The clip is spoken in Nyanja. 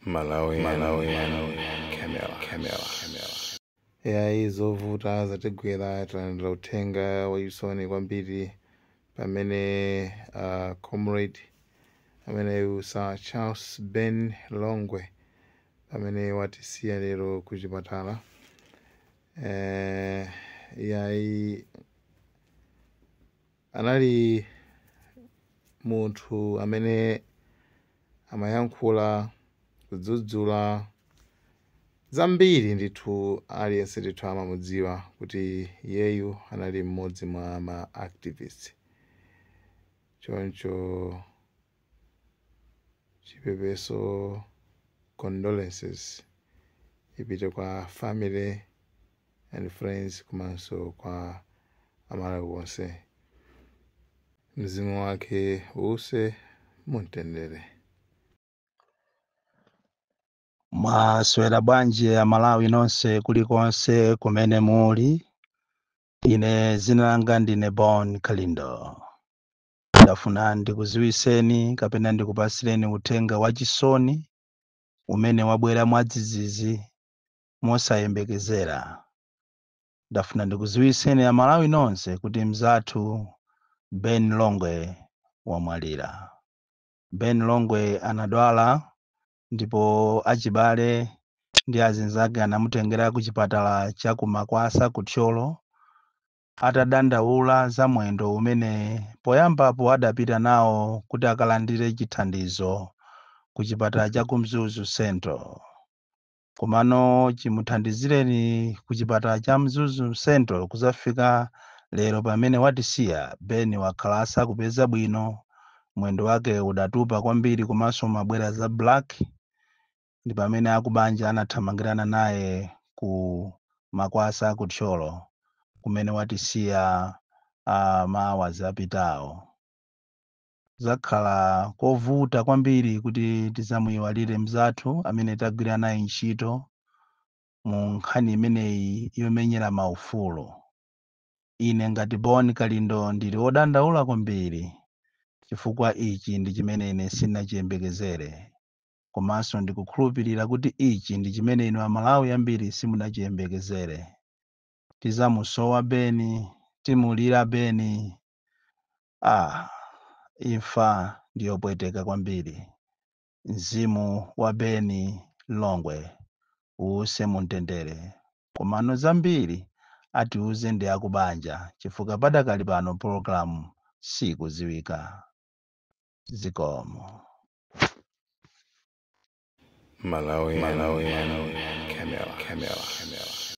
Malawian Camera. yayi zovuta zatigwera talandira uthenga wachisoni kwambiri pamene uh, comrade ameneyu sir charles ben longwe pamene watisiya lero ku chipatala eh, yayi Anali munthu amene amayankhula, kudzudzula zambiri ndithu, aliyense ndithu amamudziwa kuti iyeyu anali mmodzi mwa ma activist. Choncho chipepeso, condolences, ipite kwa family. and friends komanso kwa amalawi wonse mzimu wake uuse mumtendere mwaswera bwanji amalawi nonse kulikonse kumene muli ine zina langa ndine bon kalindo ndafuna ndikuziwiseni kapena ndikupasireni uthenga wachisoni umene wabwera mwadzidzidzi mosayembekezera. Ndafuna ndikuziwiseni a Malawi nonse kuti mzathu Ben Longwe wamwalira. Ben Longwe anadwala ndipo achibale ndi azinzake anamutengera ku chipatala cha ku Makwasa ku Thyolo atadandaula za mwendo umene poyambapo adapita nawo kuti akalandire chithandizo ku chipatala cha ku Mzuzu Central. Komano chimuthandizireni ku chipatala cha Mzuzu Central kuzafika lero pamene watisiya, Ben wakhala asakupeza bwino, mwendo wake udatupa kwambiri komanso umabwera za black ndipamene akubanja anathamangirana naye ku Makwasa ku Thyolo kumene watisiya ma hours apitawo. Kuzakhala kovuta kwambiri kuti tizamuiwalire mnzathu amene tagwira naye ntchito mu nkhani imeneyi yomenyera maufulu. Ine ngati Bon Kalindo ndili wodandaula kwambiri chifukwa ichi ndi chimene ine sindinachiyembekezere komanso ndikukhulupirira kuti ichi ndi chimene inu Amalawi ambiri simunachiyembekezere. Tizamusowa Ben, timulira Ben. Aaa imfa ndiyopweteka kwambiri mzimu wa Beni Longwe uuse mumtendere komano zambiri atiuze ndi akubanja chifukwa padakali pano program sikudziwika zikomo. Malawian, Malawian, Camera, Camera, Camera.